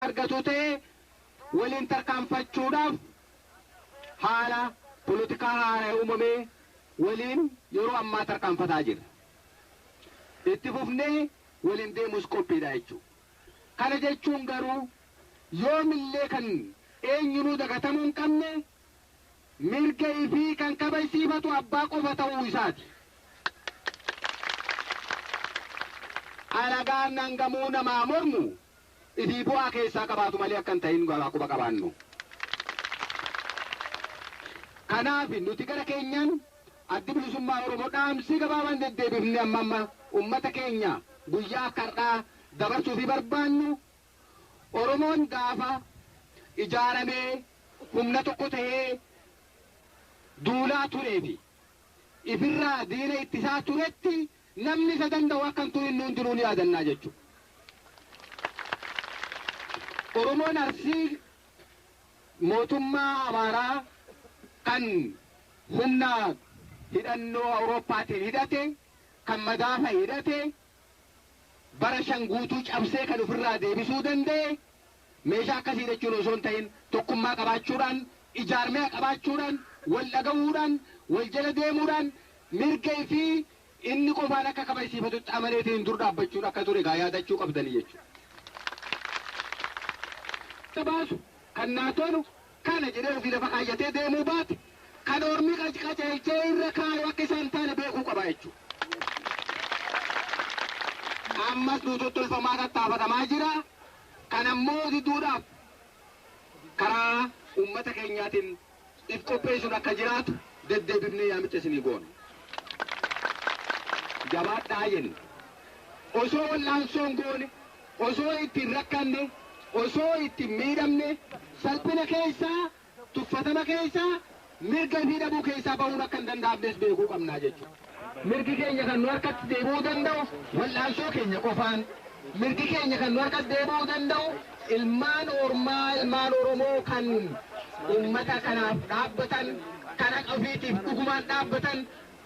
argatu ta'e waliin tarkaanfachuudhaaf haala polotikaa haaraya uumame waliin yeroo ammaa tarkaanfataa jirra. Itti fufnee waliin deemuus qophiidha jechuu. Kana jechuun garuu yoomillee kan eenyunuu dagatamuu hin qabne mirga ifii kan kabajsiifatu abbaa qofa ta'uu isaati. Alagaan hangamuu namaa mormu ifii bu'aa keessaa qabaatu malee akka hin tahin haa quba qabaannu. Kanaafi nuti gara keenyaan Addi Bilisummaa Oromoo dhaamsii gabaabaan deddeebifnee amma amma ummata keenya guyyaa akka har'aa dabarsuufii barbaannu Oromoon gaafa ijaaramee humna tokko tahee duulaa turee fi ifirraa diina ittisaa turetti Namni isa danda'u akka hin turin nuun jiruu ni yaadannaa jechuudha. Oromoon Arsii mootummaa Amaaraa kan humna hidhannoo Awurooppaatiin hidhate, kan madaafa hidhate, bara shan guutuu cabsee kan ofirraa deebisuu danda'e, Meeshaa akkasii hidhachuun osoo hin ta'in tokkummaa qabaachuudhaan, ijaarmea qabaachuudhaan, wal dhaga'uudhaan, wal jala deemuudhaan mirga ifii inni qofaan akka kabajsiifatutti amaneetiin dur dhaabbachuudha akka ture egaa yaadachuu qabdanii jechuudha. Kan baasu, kan naa tolu kana jedhee ofii lafa kaayyatee deemuu baate kan ormi qajeelchee irra kaayu akka isaa hin taane beekuu qaba jechuudha. Ammas nuu tottolfamaa tattaafatamaa jira. Kana immoo diduudhaaf karaa uummata keenyaatiin if qopheessuun akka jiraatu deddeebifnee yaamicha isinii goona. Jabaadhaa jenna. Osoo wal'aansoo hin goone, osoo itti hin rakkanne, osoo itti hin miidhamne, salphina keessa tuffatama keessaa, mirga ofii dhabuu keessaa bahuun akka hin danda'amnes beekuu qabna jechuudha. Mirgi keenya kan nu harkatti deebi'uu danda'u wal'aansoo keenya qofaan. Mirgi keenya kan nu harkatti deebi'uu danda'u ilmaan ormaa, ilmaan Oromoo kan uummata kanaaf dhaabbatan, kan haqa ofiitiif dhugumaan dhaabbatan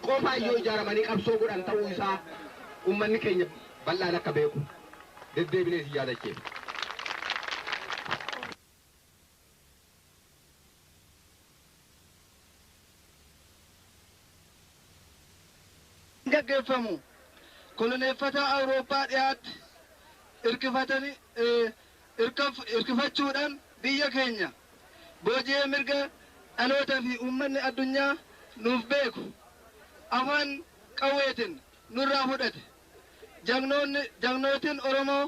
qofaan yoo ijaaramanii qabsoo godhan ta'uu isaa uummanni keenya bal'aan akka beeku deddeebinee isin yaadachiifna. gaggeeffamu koloneeffataa Awurooppaa dhihaatti irkifatani- eh, irkaf- irkifachuudhaan biyya keenya booji'ee mirga dhaloota fi uummanni addunyaa nuuf beeku afaan qawweetiin nurraa fudhate. Jagnoonni- Jagnootiin Oromoo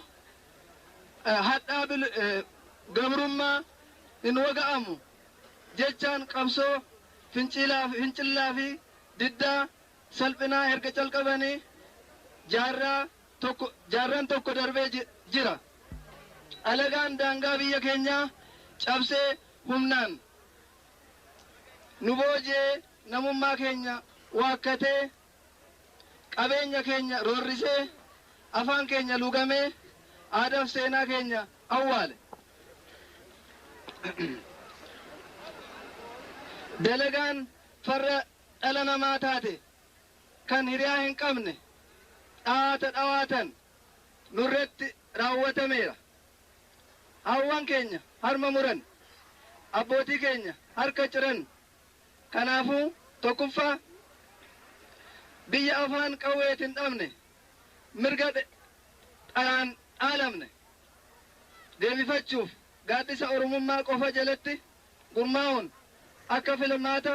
hadhaa bil gabrummaa hin waga'amu jechaan qabsoo finciilaa fincillaa fi diddaa salphinaa erga calqabanii jaarraa tokko jaarran tokko darbee ji- jira. Alagaan daangaa biyya keenyaa cabsee humnaan nu booji'ee namummaa keenya waakkatee qabeenya keenya roorrisee, afaan keenya luugamee, aadaaf seenaa keenya awwaale. Dalagaan farra dhala namaa taate, kan hiriyaa hin qabne, dhawaata dhawaatan nurratti raawwatameera. Haawwan keenya harma muran, abbootii keenya harka ciran. Kanaafuu, tokkuffaa, biyya afaan qawweetin dhabne, mirga dharaan dhaalamne deebifachuuf gaaddisa Oromummaa qofa jalatti gurmaa'uun akka filmaata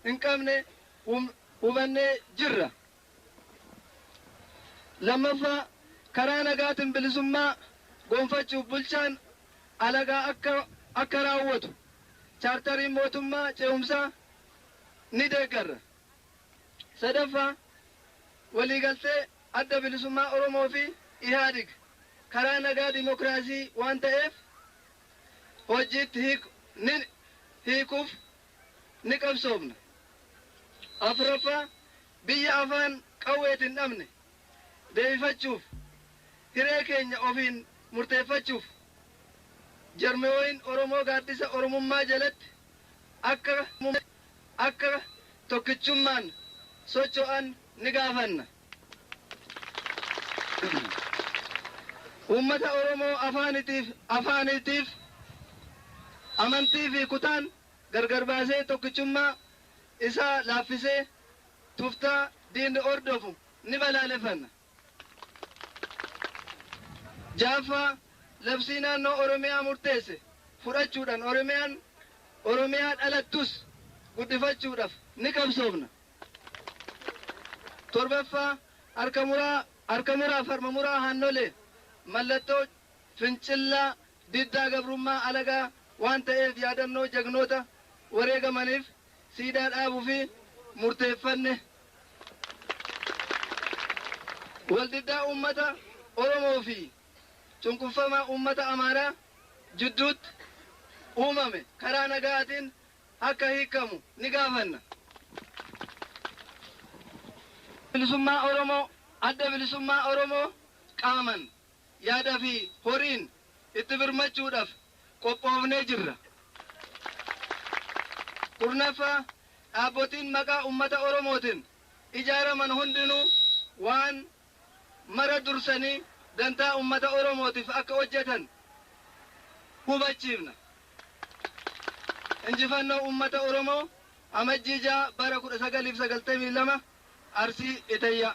hin qabne hubannee jirra. 2ffaa Karaa nagaatin bilisummaa gonfachuuf bulchaan alagaa akka akka raawwatu Chaartariin Mootummaa Ce'umsaa ni deeggarra. 3ffaa Waliigaltee Adda Bilisummaa Oromoo fi Ihaadig karaa nagaa dimokiraasii waan ta'eef hojiitti hiikuu ni hiikuuf ni qabsoofna. Afraffaa, biyya afaan qawweeti hin dhabne deebifachuuf, hiree keenya ofiin murteeffachuuf jarmiooin Oromoo gaaddisa Oromummaa jalatti akka tokkichummaan socho'an ni gaafanna. Uummata Oromoo afaanitiif, afaaniitiif, amantii fi kutaan gargar baasee tokkichummaa isaa laaffisee tuftaa diinni hordofu ni balaaleffanna. 6ffaa Labsii Naannoo Oromiyaa murteesse fudhachuudhan Oromiyaan Oromiyaa dhalattus guddifachuudhaf ni qabsoofna. 7ffaa Harka muraa Harka muraaf harma muraa haannolee mallattoo fincillaa diddaa gabrummaa alagaa waan ta'eef yaadannoo jagnoota wareegamaniif siidaa dhaabufi murteeffanne. Waldiddaa uummata Oromoo fi cunqurfamaa uummata Amaaraa jidduutti uumame karaa nagaatiin akka hiikkamu ni gaafanna. Bilisummaa Oromoo, Adda Bilisummaa Oromoo qaaman, yaada fi horiin itti birmachuudhaf qophoofnee jirra. 10ffaa Dhaabbotiin maqaa ummata Oromootin ijaaraman hundinuu waan mara dursanii dantaa ummata Oromootiif akka hojjetan hubachiifna. Injifannoo Ummata Oromoo Amajjii 6 bara 1992 Arsii Itayyaa.